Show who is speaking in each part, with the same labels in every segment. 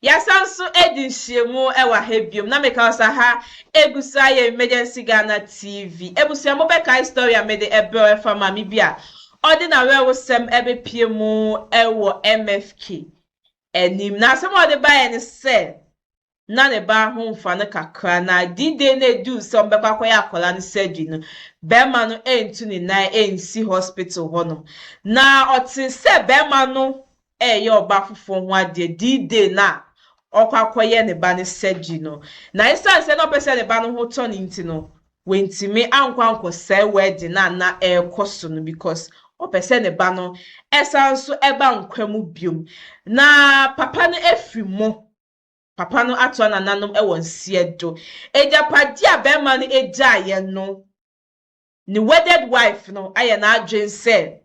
Speaker 1: Yɛasan nso adi nhyiamu wɔ ha biom na meka wo sɛ aha egu so ayɛ Emergency Ghana TV. Abusua mo bɛkae story a mede ɛbrɛw ɛfa maame bi a ɔde n'awerɛhosɛm bepie mu wɔ MFK anim. Na asɛm a ɔde baeɛ ne sɛ na ne ba ho mfa no kakra na D-Day no eduu sɛ wɔbɛkɔ akɔyɛ akwadaa no surgery no, bɛrima no antu ne nan ansi hospital hɔnom. Na ɔtee sɛ bɛrima no reyɛ ɔba foforɔ ho adeɛ dii day no a ɔrekɔ akɔyɛ ne ba no surgery no. Na ɛsiane sɛ na ɔpɛ sɛ ne ba no ho tɔ no nti no, wantumi ankɔ ankɔsɛe wedding no a na ɛrekɔ so no because ɔpɛ sɛ ne ba no san nso ba nkwa mu bio. Na papa no afiri mu. Papa no atoa nananom wɔ nseɛ do. Agyapadeɛ a barima no gyaeɛ no, ne wedded wife no ayɛ n'adwene sɛ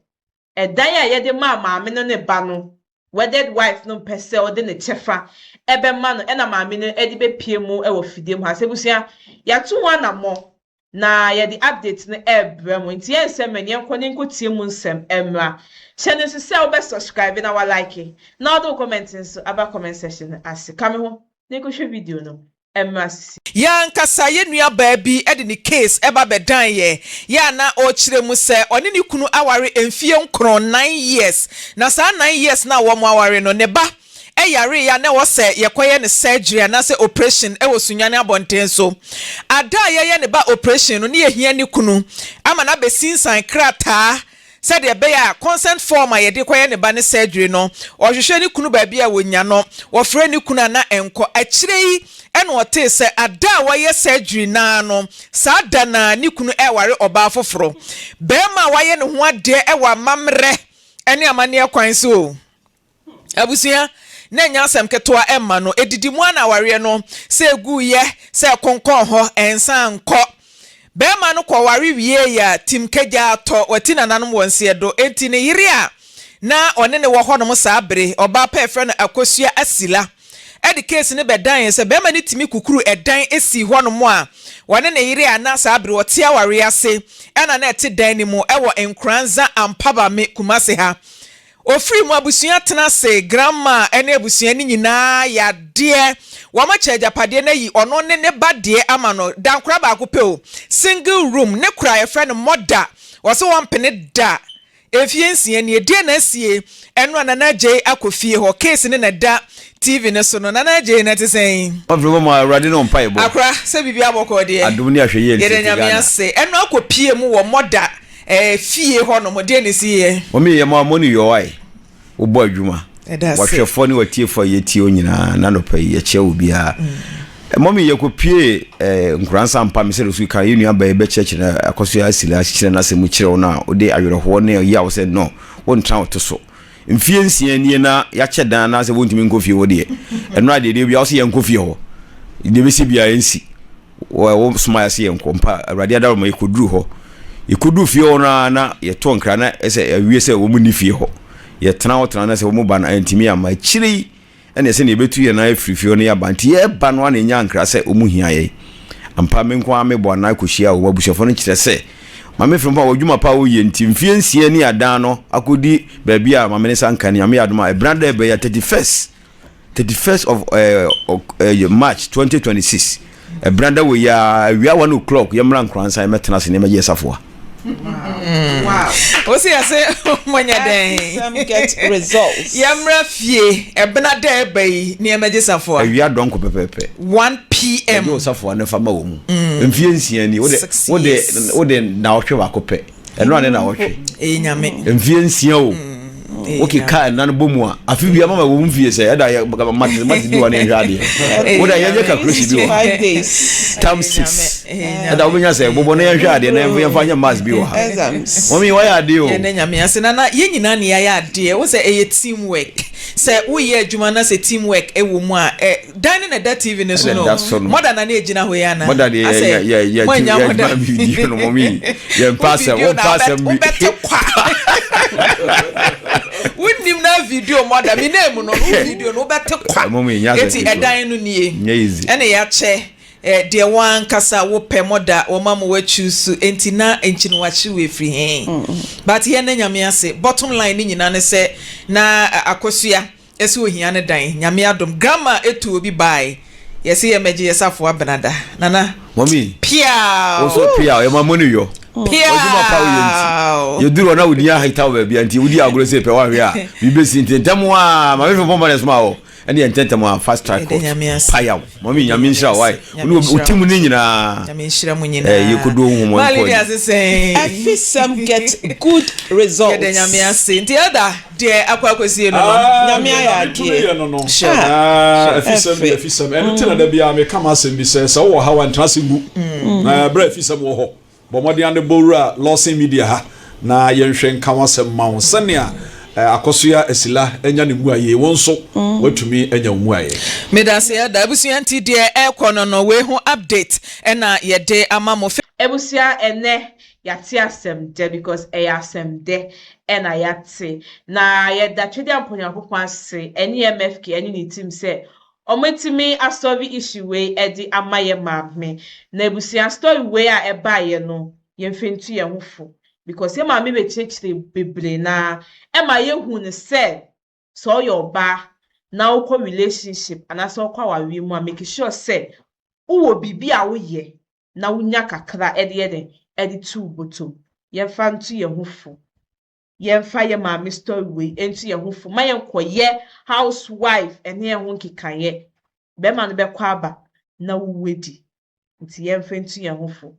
Speaker 1: ɛdan a yɛde maa maame no ne ba no, wedded wife no mpɛ sɛ ɔde ne kyɛfa bɛma no ɛna maame no de bɛpue mu wɔ fidie mu ha. Sɛ abusua, yɛato ho anammɔ na yɛde update no rebrɛ mo, nti yɛnsɛ mmɛ no, yɛnkɔ na yɛnkɔtie mu nsɛm mmra. Hyɛ no nso sɛ wobɛ subscribe na wa like na wode wo comment nso aba comment section no ase. Ka me ho na yɛnkɔhwɛ video no. mmra sisi. Yɛn ankasa yɛn
Speaker 2: nuabaa bi de ne case ba bɛdan yɛn, yɛ a na ɔrekyerɛ mu sɛ ɔne ne kunu aware mfeɛ nkron, nine years, na saa nine years no a wɔn aware no, ne ba yareeɛ a na ɛwɔ sɛ yɛkɔyɛ no surgery anaasɛ operation wɔ Sunyani abɔnten so. Ada a yɛyɛ ne ba operation no, na yɛhia ne kunu ama no abɛsinsan krataa Sɛdeɛ ɛbɛyɛ a consent form a yɛde kɔyɛ ne ba no surgery no, ɔhwehwɛ ne kunu baabi a wɔnya no, wɔfrɛɛ ne kunu a na ɛnkɔ. Akyire yi na ɔtee sɛ ada a wɔayɛ surgery no ara no, saa da no ara ne kunu reware ɔbaa foforɔ. Barima a wayɛ ne ho adeɛ wɔ amammerɛ ne amanneɛ kwan so. Abusua no nnyɛ asɛm ketewa mma no. Edidi mu ara na awareɛ no, sɛ ɛgu yɛ, sɛ ɛkonkɔn hɔ, ɛnsan nkɔ. Barima no kɔ ware wiee a, tim kagyaa tɔ. Wati nananom wɔ nseɛ do. Enti ne yere a na ɔne no wɔ hɔnom saa bere, ɔbaa pa a yɛfrɛ no Akosua Asila, de case no bɛdanee sɛ barima no tumi kukuru ɛdan sii hɔnom a ɔne ne yere a na saa bere ɔte awareɛ ase na na ɛte dan no mu wɔ Nkoranza Ampabame, Kumasi ha. Ofiri mu abusua tena ase, Granma ne abusua no nyinaa yɛ adeɛ, wɔakyɛ agyapadeɛ no ayi ɔno ne ne ba deɛ ama no, dankora baako pɛ o, single room, ne kora a yɛfrɛ no mɔda, wɔse wɔmpene da, mfeɛ nsia nie, deɛ na asie, ɛno a Nana Agyei akɔ fie hɔ, case no na ɛda TV no so no, Nana Agyei na ɛte sɛn? Ɔfiri hɔ ma Awurade ne
Speaker 3: ɔmpae bɔ. Akora, sɛ biribiara bɔkɔɔ
Speaker 2: deɛ. Adom ne ahwɛyie nti yɛda
Speaker 3: Nyame ase, ɛno
Speaker 2: akɔ pie mu wɔ mɔda. Ɛɛ fie hɔ nom deɛ ne si yɛ. Mɔmi yɛ mo a mo ne
Speaker 3: yɔwae wo bɔ adwuma. Ɛda se. Wɔhwɛfoɔ ne wɔtiefoɔ a yɛtie o nyinaa na nɔpa yi yɛkyɛ o biara. Mm. Mɔmi yɛ kɔ pie eh, nkuransa mpa mi sɛ so kan yɛ nua bɛyɛ bɛkyerɛkyerɛ na akɔso yɛ asila kyekyerɛ na asɛm mu kyerɛ wo na wode awerɛhoɔ ne ɔyi a wo sɛ no wo ntra wo to so. Mfeɛ nsia nie na yɛakyɛ dan anaasɛ wɔntumi nkɔ fie hɔ deɛ, ɛno adeɛ deɛ bia wo sɛ yɛnkɔ fie hɔ, deɛ bɛsi bia ɛnsi, wo soma yɛase yɛnkɔ mpa awurade adaroma yɛkɔduru hɔ, yɛkɔduru fie hɔ no ara na yɛtɔ nkra na ɛsɛ awie sɛ wɔn nni fie hɔ, yɛtena hɔ tena na sɛ wɔn ba no antumi amma, akyire yi. Ɛnneɛ sɛdeɛ yɛbɛtu yɛn nan afiri fie hɔ no yɛ aba, nti yɛreba no ara na yɛnya nkra sɛ wɔhia yɛn. Ampa, me nko ara mebɔ anan kɔhyiaa wɔn abusuafoɔ no, kyerɛ sɛ, Maame Frimpong wɔ adwuma pa a ɔyɛ nti, mfeɛ nsia ni a adan no akɔdi baabi a Maame Nsa nka, Nyame yɛ adom a, ɛbena da a ɛbɛyɛ, 31st, 31st of eh, eh, March 2026. Ɛbena da wɔ yi a awia one o'clock yɛ mmra nkoransa yɛ mɛtena ase ne mɛyɛ safoa.
Speaker 1: Wow. Osi
Speaker 2: ase mɔnyɛ dɛn. Get
Speaker 1: results. Yɛ mmra fie
Speaker 2: ɛbena da ɛba yi ne yɛ mɛgye safoa. Awia dɔnko pɛpɛpɛ.
Speaker 3: 1 pm.
Speaker 2: Ɛgye wɔ safoa ne fa ma
Speaker 3: wɔ mu. Mm. Mfie nsia ni. Wode wode wode na ɔhwɛ baako pɛ. ɛno a ne na wɔtwe mfie
Speaker 2: nsia o
Speaker 3: mm, woke ka ɛna no bɔ mu a afe bia mama wɔ mfie sɛ ɛda yɛmate bi wɔ ne nhwɛ adeɛ woda yɛnyɛ calculation bi wɔ
Speaker 1: tam six
Speaker 3: ɛda wobɛnya sɛ bobɔ no yɛnhwɛ adeɛ na yɛmfa nyɛ mas bi wɔ ha mɔmi wɔyɛ adeɛ o yɛne nyame ase nana yɛn
Speaker 2: nyinaa ne yɛayɛ adeɛ wo sɛ ɛyɛ team work sɛ woyɛ adwuma na sɛ team work ɛwɔ mu a Dan ne na ɛda TV ne so no. Ɛda so no. Mɔda na ne egyina hɔ yi ana. Mɔda de yɛ yɛ yɛ
Speaker 3: yɛ tu yɛ adwuma video no mɔmi yɛ mpa asɛm wo mpa asɛm bi. Wobɛte kwa.
Speaker 1: Wonim na video mɔda mi na emu no no video no wobɛte kwa. Mɔmi nyɛ asɛm bi. Eti ɛdan no nie. Nyɛ easy. Ɛna yɛakyɛ deɛ wɔn ankasa wopɛ mɔda wɔn ama wɔakyi so nti na nti no wakyi wɔ efiri hɛn. But yɛn na nyame ase bottom line ne nyinaa ne sɛ na akosua. Ɛsɛ
Speaker 2: ohia ne dan Nyame adom. Grandma etu obi baae yɛse yɛ mɛgye yɛ safoa benada nana Mɔmi
Speaker 3: piaaww woso
Speaker 2: piaaww yɛ ma
Speaker 3: moni yɔ wadwuma pa
Speaker 2: woyɛ
Speaker 3: nti yɛ duru ɔna wodi aha ita wo baabia nti wodi agorɔ sɛ pɛ wahwe a bi bɛsi nti ntɛm a mame fɛ pɔmpa na ɛsoma wɔ ɛne yɛ ntɛntɛm a fast track court payaw mɔmi nyame nhyira wo wae wone woti mu ne nyinaa
Speaker 2: yɛ kodo ho mɔ nkɔ ɛfisɛm get
Speaker 1: good results yɛdɛ nyame ase
Speaker 2: nti ɛda Deɛ akɔ akɔsie no no, Nyame ayɛ
Speaker 4: adeɛ. Deɛ Nyame tumi yɛ no no, afisɛm deɛ afisɛm. Ɛno nti na da biara meka m'asɛm bi sɛ, sɛ wowɔ ha wa ntena ase ngu. Na berɛ a afisɛm wɔ hɔ, bɔ mmɔden ara bɔ wura Lawson Media ha na yɛnhwɛ nka wo asɛm ma wo sɛnea Akɔsoya Asila anya ne mmuaee, wo nso woatumi anya wo mmuaeɛ. Medaseɛ da
Speaker 2: abusua nti deɛ ɛrekɔ no no, wei ho update na yɛde ama mo. Abusua ɛnɛ
Speaker 1: yɛate asɛm dɛ because ɛyɛ asɛm dɛ na yɛate, na yɛda Twadiampo Nyankopɔn ase ɛne MFK ɛne ne team sɛ ɔmo atumi asɔve issue wei ɛde ama yɛ maame na abusua story wei a ɛbaeɛ no yɛmfa ntu yɛn ho fo because yɛ maame bɛkyerɛkyerɛ bebree na ɛma yɛhu no sɛ sɛ ɔyɛ ɔbaa na wokɔ relationship anaasɛ wokɔ awareɛ mu a make sure sɛ wowɔ biribi a woyɛ na wonya kakra de yɛ dɛn? De to wo bɔtɔm. Yɛmfa nto yɛn ho fo. Yɛmfa yɛn maame story wei nto yɛn ho fo. Ma yɛnkɔyɛ housewife ɛne yɛn ho nkekaeɛ. Bɛrima no bɛkɔ aba na wo wo adi. Nti yɛmfa nto yɛn ho fo.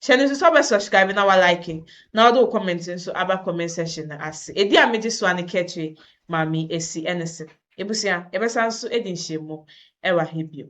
Speaker 1: Hyɛ no nso sɛ wobɛ subscribe na wa like na wode wo comment nso aba comment section no ase. Ɛdi a megye so a ne Kɛtwe Maame Asi ɛne se, abusua yɛbɛsan nso adi nhyiamu wɔ ha bio.